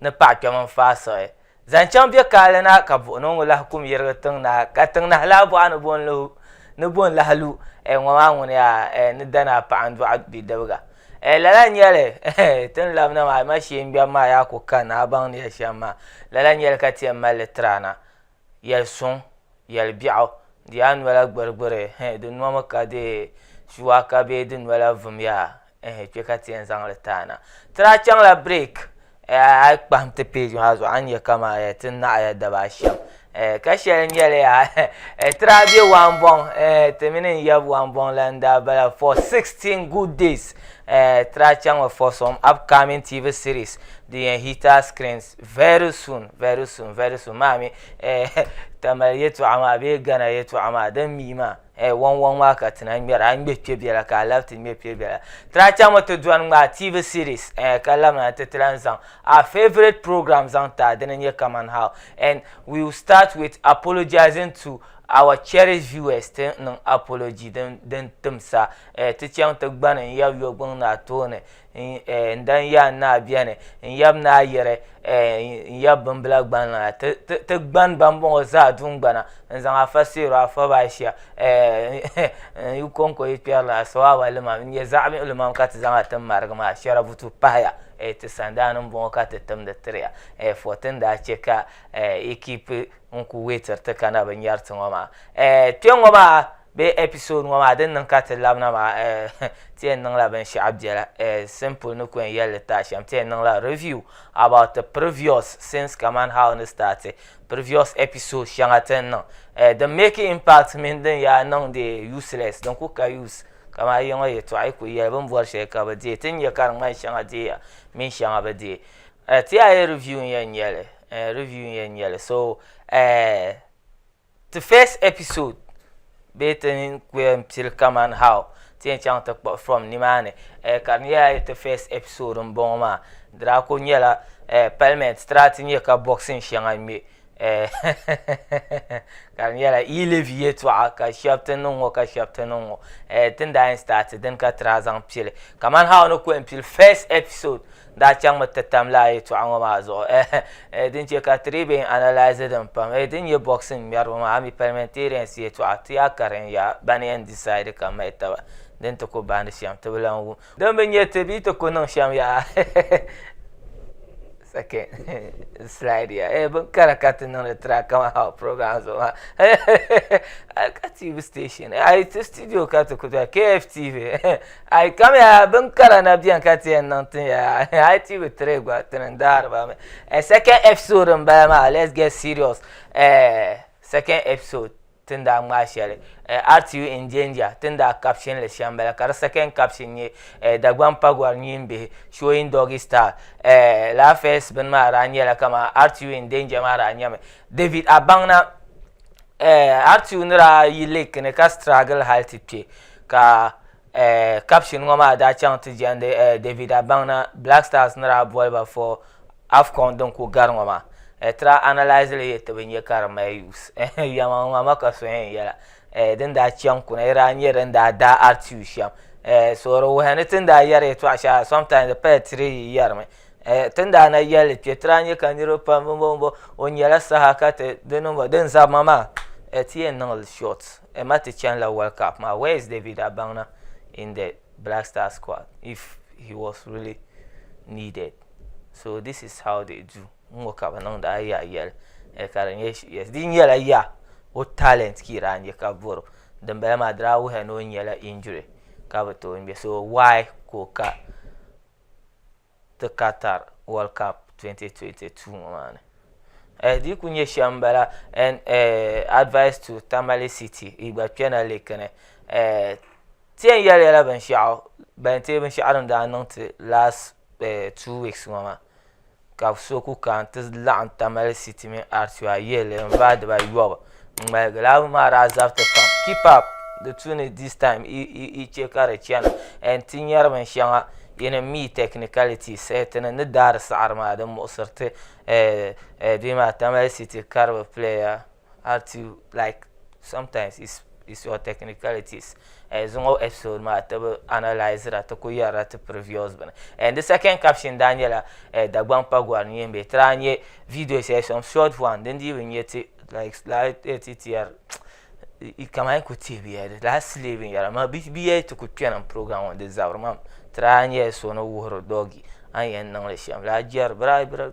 ni paɣ kpɛm n-faai siɣi zaŋ chaŋ bɛ kaali na ka buɣinɔŋɔ lahi kum yirigi tiŋ na, ka tiŋ nahi laa bɔɣa ni bɔn lu, ni bɔn lahi lu, eh, ŋɔ maa ŋuni yaa, eh, ni danaa paɣa n-dɔɣi bidibiga, eh, lala n-nyɛ li, eh, ti ni labina maa, a ma shee n-ŋmɛbu maa yaa ku ka ni a baŋ ni ya shɛm maa, lala n-nyɛ li ka ti yɛn mali li tiri a na, Yɛli suŋ, yɛli biɛɣu, di yaa nola gbirigbiri, eh, di nomi ka di shuwaaka bee di nola vumya, eh, kpe ka ti yɛn zaŋ li taana. Ti daa chaŋla break, eh, a yi kpahim ti page maa zuɣu a ni nya ka man eh, ti naɣiya daba a shɛm, eh, ka shɛli nyɛli yaa eh, ti daa be Wambɔŋ, eh, ti mini n yab Wambɔŋ la n daa bala for 16 good days, eh, ti daa chaŋmi for some upcoming TV series din yɛn hit our screens. Very soon, very soon, very soon maa mi eh, Tamale yɛtɔɣa maa bee Ghana yɛtɔɣa maa din mii maa eh, wɔŋ wɔŋ maa ka ti na ŋmɛra a ŋmɛ kpɛ biɛla ka a labi ti ŋmɛ kpɛ biɛla ti lahi chaŋ mi ti dɔni ŋmaai TV series eh, ka labina nti ti lahi zaŋ our favourite program zaŋ ti a dini n-nyɛ Kaman How and we will start with apologising to our cherished viewers ti niŋ apology din tim sa eh, ti chaŋ ti gbani n-yab yɔgbuni naa tooni N dan ya n naa bɛni n yab ni a yiri n yab bimbila gban na ti gban ba n bɔŋɔ zaa dungbana n zaŋ afa seero afa ba ashia n yi kɔŋko yi kpɛri la asawawa limam n nyɛ zaɣ miɣili mam ka ti zaŋ a tin marigi maa shɛrabutu pahaya ti sandaani n bɔŋɔ ka ti timdi tiri ya fɔrti n daa chɛ ka yi kiipi n ku weetiri ti ka na bi nyɛri ti ŋɔ maa kpɛŋŋɔ maa Bee episode ŋɔ maa din niŋ ka ti labina maa eh ti yɛn niŋla binshɛɣu biɛla eh simple ni ku yɛn yɛli li tahi shɛm ti yɛn niŋla review about the previous scenes kamani how ni start previous episode shɛŋa ti ni niŋ eh din make impact mini din yaa niŋ di useless din ku ka use kamani a yiŋa yɛltɔɣa yi ku yɛli bini bɔri shɛli ka bi deei ti ni nya ka di ŋmani shɛŋa deeya mini shɛŋa bi deei eh ti yaa yɛli review n-yɛn nyɛli eh review n-yɛn nyɛli so eh Ti first episode bee ti ni ku yɛn pili kamani how ti yɛn chaŋ ti kpuɣi from nimaani eh, ka di nyɛla ti first episode n bɔŋɔ maa di daa ku nyɛla eh, parliament ti daa ti nyɛ ka boxing shɛŋa ŋmɛ eh, ka di nyɛla yi levy yɛltɔɣa ka shɛb ti niŋ ŋɔ ka shɛb ti niŋ ŋɔ eh, ti ni daa yɛn start dini ka ti daa zaŋ pili kamani how ni ku yɛn pili first episode daa chaŋmi ti tam lala yɛltɔɣa ŋɔ maa zuɣu eh, din chɛ ka ti dii bɛn analyse din pam eh, din nyɛ boxing ŋmɛriba maa ami parliamentarians yɛltɔɣa ti yaa karin ya ban yɛn decide ka mahi taba din ti ku baandi shɛm ti bi lan wum din bi nyɛ ti bee ti ku niŋ shɛm yaa second slide ya eh, bin kara ka ti niŋdi tira kama how program zuɣu maa ka tv station ayi ti studio ka ti ku dɔli kftv A yi kam ya bin kara na bɛni ka ti yɛn niŋ tin ya a yi ti bi tiri gba ti ni daari ba mi eh, second episode n bala maa let's get serious eh, second episode tin daa ŋmaa shɛli eh, RTU in danger tin daa caption li shɛm bala ka di second caption nyɛ eh, Dagban Pagwar nyin bihi showing doggy style eh, la first bin maa daa nyɛla kama RTU in danger maa daa nyɛmi David Abanna eh, hali ti yuuni daa yi lake ni ka struggle hali ti kpe ka eh, caption ŋɔ maa daa chaŋ ti jɛndi eh, David Abaŋna Black Stars ni daa boli ba fɔ AFCON din ku gari ŋɔ maa eh, ti daa analyse li yɛ ti bi nyɛ ka di mali use eh, yɛma ŋɔ ma ka so yɛn yɛla eh, din daa chaŋ kuna yi daa nyɛ din daa daa artiw shɛm eh, so di wuhi ni ti ni daa yɛri yɛtɔɣa shɛŋa sometimes di paya tiri yi yɛrimi. Eh, tin daa na yɛli kpɛ ti daa nyɛ ka niriba pam bimbo bimbo o nyɛla saha ka ti di niŋba din zabima maa eh, ti yɛn niŋli short eh, ma ti chani la World Cup maa where is David Abaŋna in the Black Star squad if he was really needed so this is how they do n ŋɔ ka bi niŋda a yaa yɛli eh, ka di nyɛ yes di nyɛla yaa o talent ka yi daa nyɛ ka bɔro dinbala maa di daa wuhiya ni o nyɛla injury ka bi tooi ŋmɛ so why ka o ka ti Qatar World Cup 2022 ŋɔ maa ni eh di ku nyɛ shɛm bala and eh advice to Tamale City yi gba kpɛna liki ni eh ti yɛn yɛli yɛla binshaɣu ban ti binshaɣu din daa niŋ ti last eh two weeks ŋɔ maa ka so ku kana ti laɣim Tamale City mini Artua yihili n vaai diba yɔbu n ŋmaligi lala bin maa daa zabiti pam keep up di tuuni this time yi che ka di chana and ti nyari bin shɛŋa yin n mi technicalities ti ni ni daari saɣiri maa di muɣisiri ti bee maa Tamale City karibu player. have to like sometimes it's it's your technicalities eh, zuŋɔ episode maa ti bi analyze ra ti ku yɛrila ti previous bini and the second caption daa nyɛla eh, Dagbaŋ pa gɔri ni yɛn bɛ ti daa nyɛ video shɛli some short one din dii bi nyɛ ti like daa eh, ti tiyɛri kamani n ku teebiya di daa sili binyɛra ma bi yɛ ti ku kpɛna n program ŋɔ di zabiri mam ti daa nyɛla so ni wuhiri dɔgi a ni yɛn niŋli shɛm daa jɛri bira bira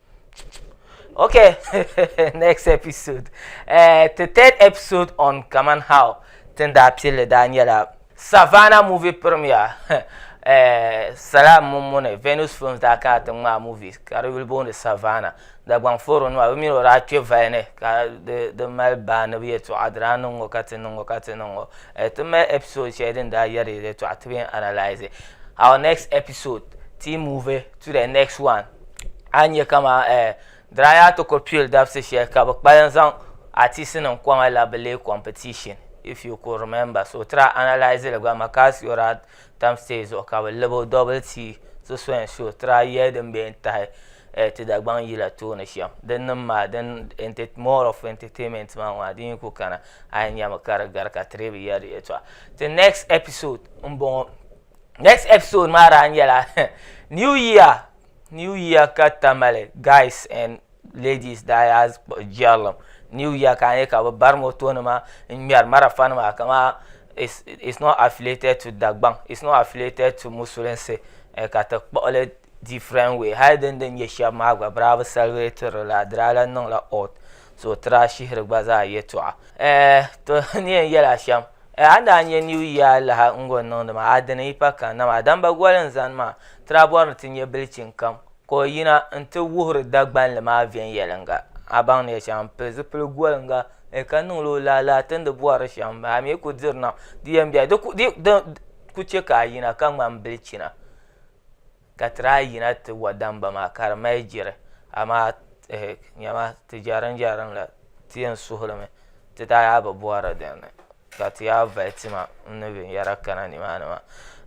Okay, next episode. Uh, the third episode on Kaman How Tinda Pili Daniela Savannah movie premiere. uh, Salam Mumune, Venus Films da ka ta ma movie. Ka will born the Savannah. Da gwang foro no abi miro ra che vaine ka the the mal ba na bi to adra no ngo ka tin ngo ka tin ngo. Eh, to me episode che din da yari to atbi analyze. Our next episode, team movie to the next one. a nyɛ kama diraya ti ko pil dabisi shɛli ka bi kpalim zaŋ atisi nim kɔŋa la bi lee competition if you could remember so try analyze li gba Makasiora tam stage zuɣu ka bi libo double tii so so and so try yɛli din bɛ yɛn tahi ti Dagbaŋ yila tooni shɛm din nim maa din more of entertainment maa ŋɔ adi yi ku kana a yi nyɛmi ka di gari ka tiri bi yɛli di yɛltɔɣa ti next episode n bɔŋɔ. next episode maa daa nyɛla new year new year ka tamale guys and ladies daa yaa jɛrilim new year ka a nyɛ ka bi bari moto nima n ŋmɛri marafa nima kama it's, it's not affiliated to dagbaŋ it's not affiliated to musulinsi eh, ka ti kpuɣili different way hali din din nyɛ shɛba maa gba bira bi celebrate la dirala niŋla odd sootura shihiri gba zaa yɛtɔɣa to ni yɛn yɛli a shɛm a ni daa nyɛ new year laha n gɔn niŋdi maa a dini yi pa kan na maa damba goli n zani maa tira bɔri ni ti nyɛ bilichin kam ka o yina n ti wuhiri dagbanli maa viɛnyɛlinga a baŋ ni yɛli shɛm n pili zipili golinga ka niŋla o laa laa tindi bɔri shɛm a mi ku diri nam di yɛn bɛ di ku chɛ ka a yina ka ŋmani bilichina ka ti daa yina ti wa damba maa ka di mali jiri amaa ehe nyama ti jɛrinjɛrim la ti yɛn suhi li mi ti daa yaa bi bɔhiri din ni ka ti yaa vali tima n ni binyɛra kana ni maa ni maa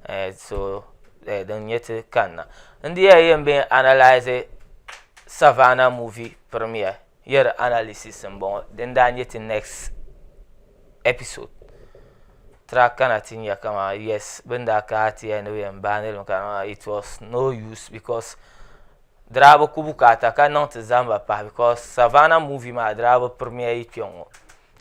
ehe so din nyɛ ti kani na n di yɛn yɛn bɛn analise Savannah movie premiere. Year analysis n bɔŋɔ din daa nyɛ ti next episode tira kana ti nya kama yes bin daa ka ti ya ni bɛ yɛn baai niriba kana maa it was no use because dirabi ku bukaata ka niŋ ti zahimba pahi because Savannah movie maa dirabi premiere kpɛŋɔ.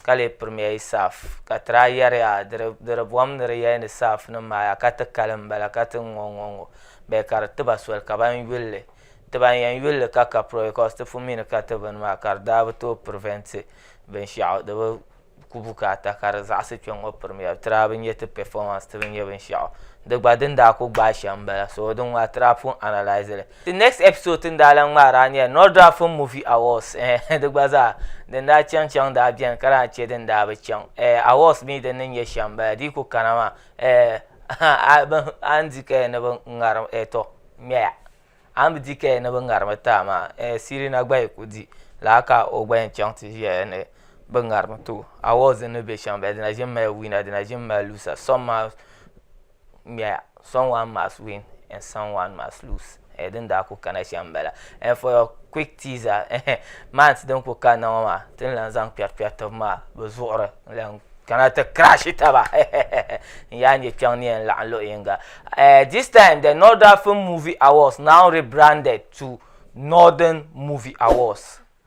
ka lee pirimiya yi saaf, ka ti daa yɛriya, Di di bom ni di yɛli ni saafnim maa yaa ka ti kali m-bala ka ti ŋ-ŋɔ ŋ-ŋɔ ŋ-ŋɔ bee ka di ti ba soli ka ban yuli li. Ti ban yɛn yuli li ka ka puro because ti pun mi ni ka ti bini maa ka di daa bi tooi prevent binshɛɣu di bi ku bukaata ka di zaɣisi kpe ŋ-ŋɔ pirimiya ti daa bi nya ti performance ti bi nya binshɛɣu. Di gba din daa ku gbaai shɛm m-bala so di ŋ-ŋɔ a ti daa pun analyse li. The next episode ti ni daa lan ŋmaari a nyɛla Nordra Film Movie Awards eh di gba zaa din daa chaŋ chaŋ daa beni ka daa che din daa bi chaŋ eh awards mi din ni nyɛ shɛm bala di yi ku kana maa eh a bi a ni di kaya ni bi ŋarim eh to ŋmɛya a ni bi di kaya ni bi ŋarimi ti a maa eh Sirina gba yi ku di lala ka o gba yɛn chaŋ ti ʒiya ni bi ŋarimi ti o awards din ni be shɛm bala di na ʒimi mali winner di na ʒimi mali loser some maa ŋmɛya some one must win and some one must lose eh, din daa ku kana shɛm bala and eh, for your quick teaser eh, months din ku kanna ŋɔ maa tin lan zaŋ kpɛri kpɛri tibi maa bi zuɣuri lan kana ti crash taba n yaa nyɛ kpɛŋ ni yɛn laɣam luɣi yinga eh, this time the northern film movie awards now rebranded to northern movie awards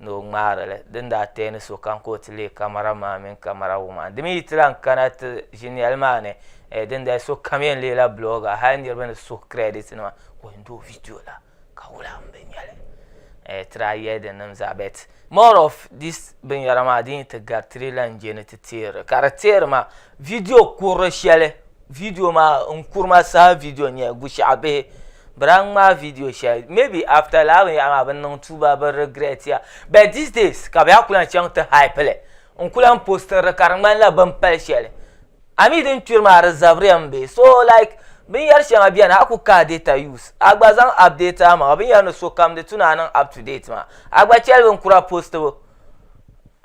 ni o ŋmaari li din daa teei ni sokam ka o ti leei kamara maa mini kamara wum a. Di mi yi ti lahi kana ti ʒiniɛl maa ni, eh, dindali sokam yɛn leela blogger, hali niriba ni suhu credit nima ka o yɛn di o video la ka wula m bi nya li. Eh, ti daa yɛli di nim zaa but more of this binyɛra maa din yi ti gari ti di lahi je ni ti teeri li. Ka di teeri maa video kurili shɛli Video maa n kurima saha video n nyɛli bushiɛɣu bihi bɛ daa ŋmaai video shɛli maybe after lala binyɛhiri maa bɛ ni niŋ tuuba bɛ regret ya but these days ka bɛ yaa kuli lan chaŋ ti hype li n kuli lan posting li ka di ŋmanila bɛ ni pali shɛli a mi din kpiri maa di zabiriya m be so like binyɛri shɛŋa beni a ku kahi data use a gba zaŋ update amaŋa binyɛri ni sokam di tu ni a niŋ up to date maa a gba cheli bin kura postibu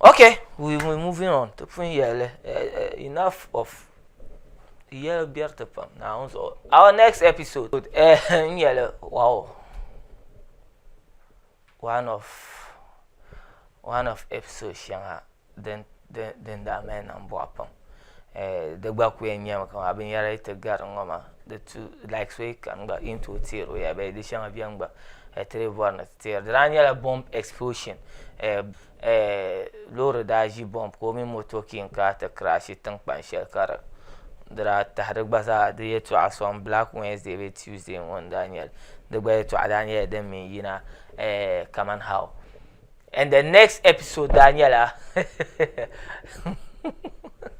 Okay we we moving on ti pun yɛli enough of di yɛli bɛriti pam naawuni zuɣu our next episode n yɛli wow one of one of episode shɛŋa din din daa mali niŋ bɔɣu pam di gba ku yɛn nyɛmi ka binyɛra yi ti gari ŋɔ maa di tu like so yi kani gba yi ni tooi teeri o ya bee di shɛŋa bɛni gba ti lee bɔri ni Teer di daa nyɛla bomb explosion loori daa ʒi bomb ka o mini moto king kaa ti crashi tinkpan shɛli ka di di daa tahi di gba zaa di yɛltɔɣa soŋ black Wednesday bee Tuesday ŋɔ n daa nyɛli di gba yɛltɔɣa daa nyɛla din mi n yina kaman how and the next episode daa nyɛla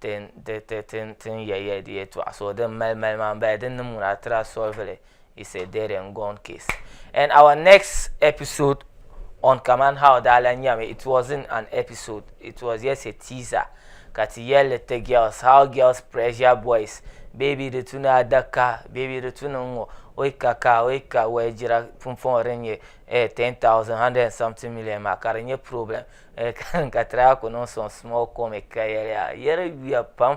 tin ya ya di yɛtɔɣa so din mali mali maa m-bala din ni muna tira solvili is a dead and gone case and our next episode on kaman how daa lan nyami it wasn't an episode it was just a teaser ka ti yɛlli ti girls how girls pressure boys baby di tu ni adaka baby di tu ni ŋ-ŋɔ o yi ka ka o yi ka wɛligira pumpɔŋɔ din nyɛ eh ten thousand hundred and something million maa ka di nyɛ problem ka ti daa ku niŋ sɔŋ small comic ka yɛli a yɛri yuya pam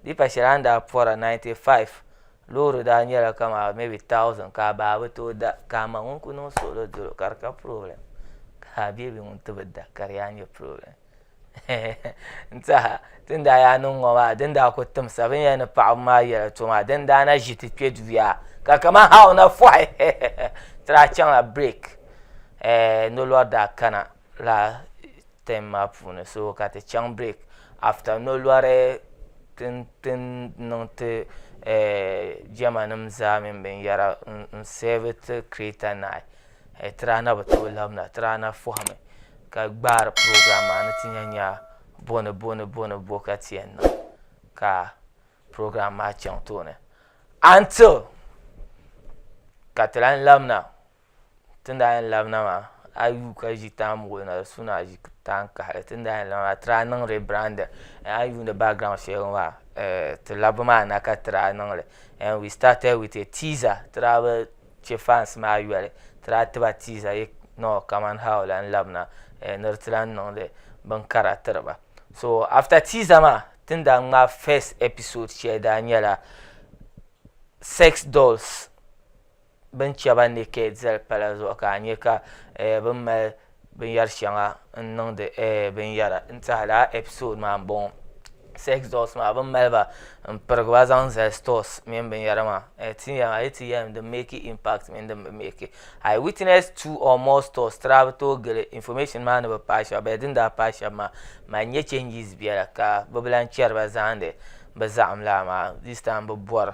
di yi pa shɛli a ni daa pɔra 95 loori daa nyɛla kamani maybe 1000 ka a baa bi tooi da ka a ma ŋun ku niŋ suɣili dolo ka di ka problem ka a beebi ŋun ti bi da ka di yaa nyɛ problem n tiɛha ti ni daa yaa niŋ ŋɔ maa din daa ku timsa bini yɛn ni paɣaba maa yɛla to maa din daa na ʒi ti kpɛ duya ka kamani ha o na fɔhi ti daa chaŋla break nolɔri daa kana laa ten maa puuni so ka ti chaŋ break after nolɔri tin niŋ ti jema nima zaa mini binyera n save ti kireta nayi ti daa na bi tooi labina ti daa na fahimi ka gbaari program maa ni ti nya nya boni boni boni bo ka ti yen niŋ ka program maa chaŋ tooni until ka ti lahi labina. Tin daa yɛn labina maa a yi yuui ka ʒi taan muɣili na di suhu ni a ʒi taan kahali tin daa yɛn labina maa ti daa niŋ rebrandin a yi yuuni background shɛli ŋɔ maa ti labbu maa na ka ti daa niŋli and we started with a teaser ti daa bi chɛ fans maa yoli ti daa tiba teaser yɛ no kamani how o lahi labina ni di ti lahi niŋdi binkara tiri ba so after teaser maa ti ni daa ŋmaai first episode shɛli daa nyɛla sex dolls. bin chɛ ba ni kɛ dɛli pala zuɣu ka a nyɛ ka bin mali binyɛri shɛŋa n niŋdi binyɛra n tiɛha laa ɛpisod maa n bɔŋɔ sɛks dɔls maa bin mali ba n pirigi ba zaŋ zali stɔs mini binyɛra maa a yi ti yɛlim din mɛki impakt mini din bi mɛki a yi witinɛs tuu ɔɔ mɔɔ stɔs ti daa bi tooi gili infɔmɛshin maa ni bi paai shɛba bee din daa paai shɛba maa mali nyɛ chɛnjis biɛla ka bi bi lan chɛri ba zaani bi zaɣim lana maa dis taim bi bɔri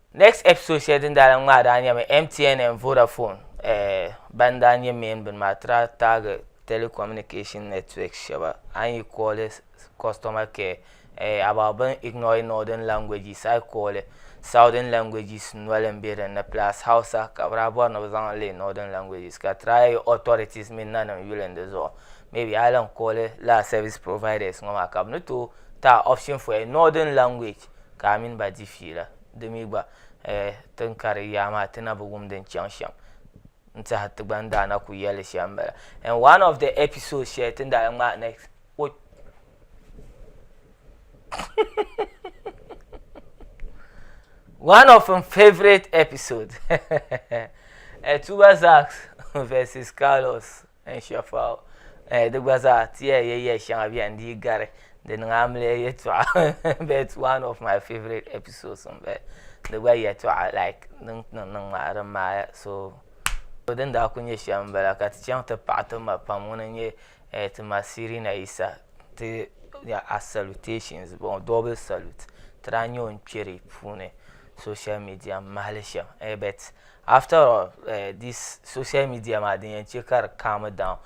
Next episode shɛli din daa lan ŋmaai daa nyɛmi MTN and Vodafone eh, ban daa nyɛ main bini maa ti daa taagi telecommunication networks shɛba a ni yi kooli customer care eh, about bɛ ni ignore northern languages a yi kooli southern languages noli m-be din ni plus Hausa ka bɛ daa bɔri ni bɛ zaŋ leei northern languages ka try yi authorities mini nanim yuli n di zuɣu maybe a yi lan kooli lala service providers ŋɔ maa ka bɛ ni tooi ti a option for a northern language Ka a mini ba di fiila. Di mi gba, eh, ti ni kari yaa maa, ti na bi wum din chaŋ shɛm. N tɛha ti gba ni daa na ku yɛli li shɛm m-bala. In one of the episodes shɛli ti ni daa ŋmaai next, o One of m favourite episodes, eh, Tuba Zax vs Carlos. N shɛfa o eh, di gba zaa ti ya yɛya shɛŋa bɛn dii gari di niŋ amiliya yɛtɔɣa but one of my favorite episodes n bala di gba yɛtɔɣa like din niŋ niŋ maa din maaya so din daa ku nyɛ shɛm n bala ka ti chaŋ ti paɣi ti ma pam ŋuni n nyɛ eh, ti ma Sirina Yisa ti ya a salutations bɔŋɔ double salute ti daa nyɛ o n kpɛri puuni social media m mahili shɛm eh, but After all this social media maa din yɛn chɛ ka di calm down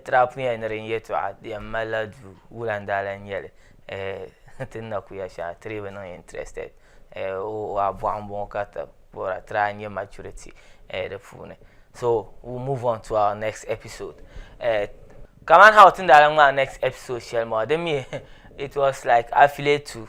trap ŋɔ ni din yɛtɔɣa di yɛn malila duu wulandaalan n-nyɛli ti ni na ku ya shɛli ti dii bi niŋ interested o abɔɣu m-bɔŋɔ ka ti bɔra try n-nyɛ maturity di puuni so we move on to our next episode kaman how ti ni daa lan ŋmaai next episode shɛli maa di mi it was like affiliate to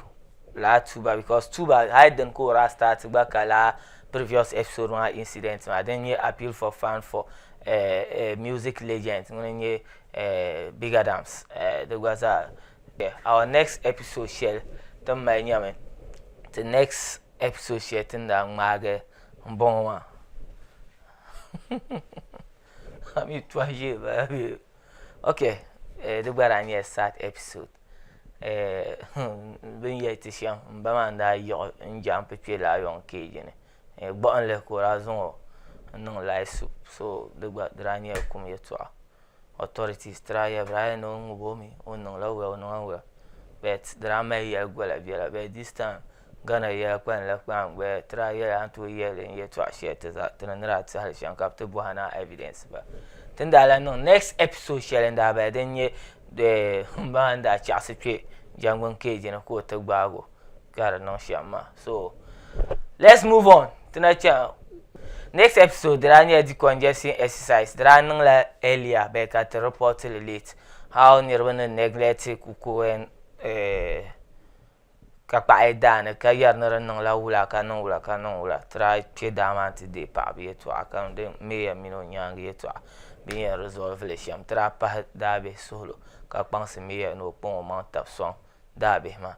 lala tuba because tuba hali dini ka o daa start gba ka lala previous episode maa incident maa din nyɛ appeal for fund for uh, uh, music legend ŋuni nyɛ uh, big adams uh, di gba zaa yeah. our next episode shɛli tin mali nyɛmi ti next episode shɛli tin daa ŋmaagi n bɔŋɔ maa ami tɔhi ʒee baa okay uh, di gba daa nyɛla sad episode bi ni yɛli ti shɛm n ba maa n daa yiɣi n jɛmp kpɛ laa yɔn keeji ni gbuɣinli ka o daa zaŋo n niŋ lahi su so di gba di daa nyɛla kum yɛltɔɣa otɔritis ti daa yɛli ba daa yɛli ni o ŋubo mi o ni niŋ la wɛl o niŋ la wɛl bɛt di daa mali yɛli gola biɛla bɛt dis taim Ghana yɛla kpalim la kpaŋ gbaya ti daa yɛli a ni tooi yɛli n yɛtɔɣa shɛli ti za ti ni ni daa ti hali shɛm ka bi ti bɔhi ni a evidence ba ti ni daa lan niŋ next episode shɛli n daa bala din nyɛ eh, n ba maa ni daa chaɣisi kpe jɛngbuni keeji ni ka o ti gbaag o ka di niŋ shɛm maa so let's move on ti na chaŋ next episode di daa nyɛla decongestion exercise di daa niŋla earlier bee ka ti report li late how niriba ni neglect ku ko eh, ka kpaɣi daa ni ka yɛri ni di niŋla wula ka niŋ wula ka niŋ wula tira kpɛ daa maa n ti deei paɣaba yɛltɔɣa ka niŋdi meeya mini o nyaangi yɛltɔɣa bi ni yɛn rizɔlivili li shɛm tira pahi daabihi suhulu ka kpaŋsi meeya ni o kpaŋ o maŋa tabi sɔŋ daabihi maa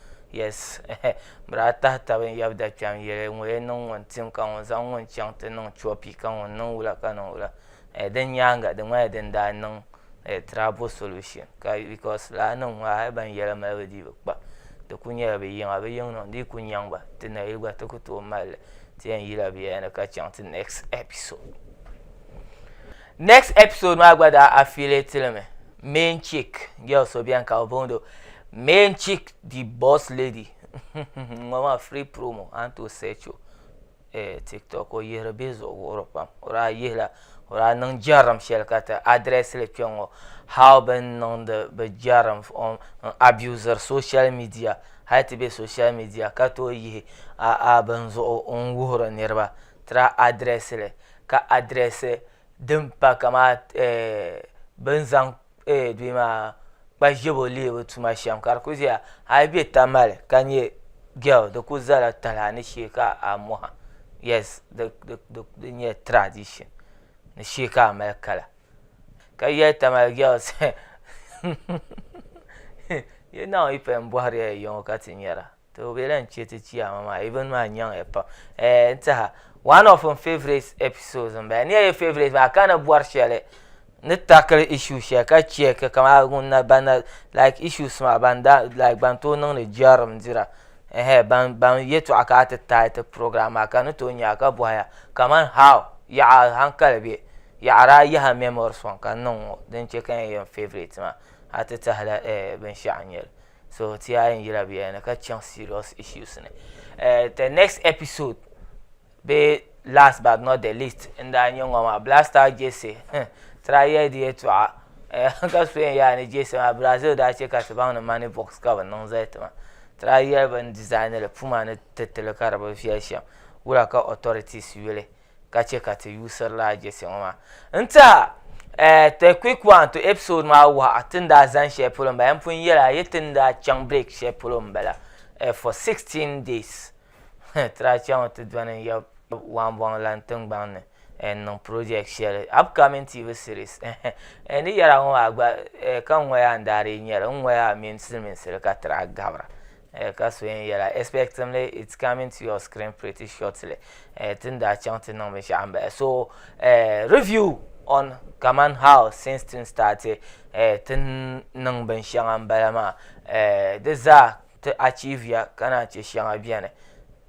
Yes bɛ daa tahi taba n yab da kpɛm yɛli ŋɔ yɛn niŋ ŋun tim ka ŋun zaŋ ŋun chaŋ ti niŋ copy ka ŋun niŋ wula ka niŋ wula din nyaaŋa di ŋmanila din daa niŋ trouble solution because lala nim ŋɔ hali ban yɛli mali bi dii bi kpa di ku nyɛla bi yiŋa bi yiŋ niŋ di yi ku nyaŋ ba ti nayili gba ti ku tooi mali li ti yɛn yila biɛla ni ka chaŋ ti next episode Next episode maa gba daa affiliate li mi main chick girl so bɛni ka o bondo main chick the boss lady ŋɔ maa free promo an to search o eh, tiktok o yihiri bihi zuɣu wuhiri pam o daa yihila o daa niŋ jɛrim shɛli ka ti address li kpɛ ŋɔ how bin niŋdi bi jɛrim on n abuser social media hali ti bɛ social media ka tooi yihi a a bin zuɣu n wuhiri niriba Tira adirɛsili ka adirɛsi din pa kamani bi ni zaŋ kpa ʒiɛbo leebu tuma shɛm ka di ku ʒiya a yi bɛ Tamale ka nyɛ gɛl di ku zala talahi ni shee ka a mɔha yɛs di nyɛla tiradishin ni shee ka a mali kala ka yɛli Tamale gɛls hɛh hɛh hɛh yi naawuni yi paya m bɔhiri ya ya ŋɔ ka ti nyara. to o be lahi che ti chiyaama maa even maa nyaŋ ya pam eh n tiɛha one of n favourite episodes n bala ni ya ye favourite maa ka ni bɔri shɛli ni tackle issue shɛli ka check kamani ŋun na ban na like issues maa ban da like ban tooi niŋdi jɛrim dira eh ban ban yɛltɔɣa ka a ti taai ti program maa ka ni tooi nya ka bɔhi ya kamani how yaɣa hankali bɛ yaɣara a yaha memories ŋɔ ka n niŋ ŋɔ din che ka n yɛn yɛn favourite maa a ti tahila eh binshɛɣu n nyɛli. so ti a yɛn yira bɛ ni ka chaŋ serious issues ni eh, the next episode be last but not the least n daa nyɛ ŋɔ maa blaster jesse hmm, tira yɛli di yɛtɔɣa eh, ka so yɛn yaa ni jesse maa brazil daa chɛ ka ti baŋ ni money box ka bi niŋ zali ti ma tira yɛli bin design li puma ni titili ka di bi viɛli shɛm wura ka authorities yuli ka chɛ ka ti yuusirila a jɛsi ŋɔ maa. N tiɛha, eh, the quick one to episode maa wuhi a ti ni daa zani shɛli polo m-bala. N pun yɛli a yi ti ni daa chaŋ break shɛli polo m-bala, eh, for sixteen days. Huh, ti daa chaŋ mi ti dɔni n-yab Wambɔŋ lan tiŋgbɔŋ ni, eh, n-niŋ project shɛli, upcoming TV series, eh-heh. Eh, ni yɛri a ŋɔ maa gba, eh, ka ŋ ŋɔya n-daa dii nyɛ li. N ŋɔya mini siliminsili ka ti daa gabira. Eh, ka so yɛn yɛla expectingly it's coming to your screen pretty shortly eh, tin daa chaŋ ti niŋ binshaɣu n bahi so eh, review on kaman how since tin started eh, tin niŋ binshɛŋa n bala maa eh, di zaa ti achieve ya ka naan chɛ shɛŋa bɛni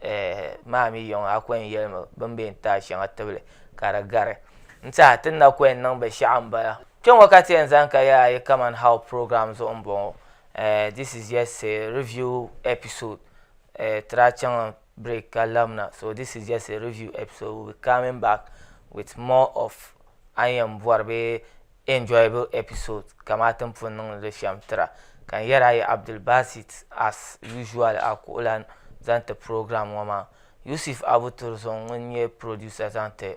eh, maa mi yɔŋ a kɔyɛn yɛlimi bin bɛ n taai shɛŋa tibili ka di gari n tiɛha tin na kɔyɛn niŋ binshaɣu n bala kpɛŋɔ ka ti yɛn zani ka yɛla yi kaman how program zuɣu n bɔŋɔ Eh, this is just a review episode. Eh, tira chaŋ break ka lamna. So this is just a review episode. We'll be coming back with more of an yɛn bɔri bee enjoyable episode kamaa tin pun niŋdi li shɛm tira. Ka n yɛri a yi Abdul Basit as usual a kuɣulan zaŋ ti program ŋɔ maa. Yusuf Abu Turzon ŋun nyɛ producer zaŋ ti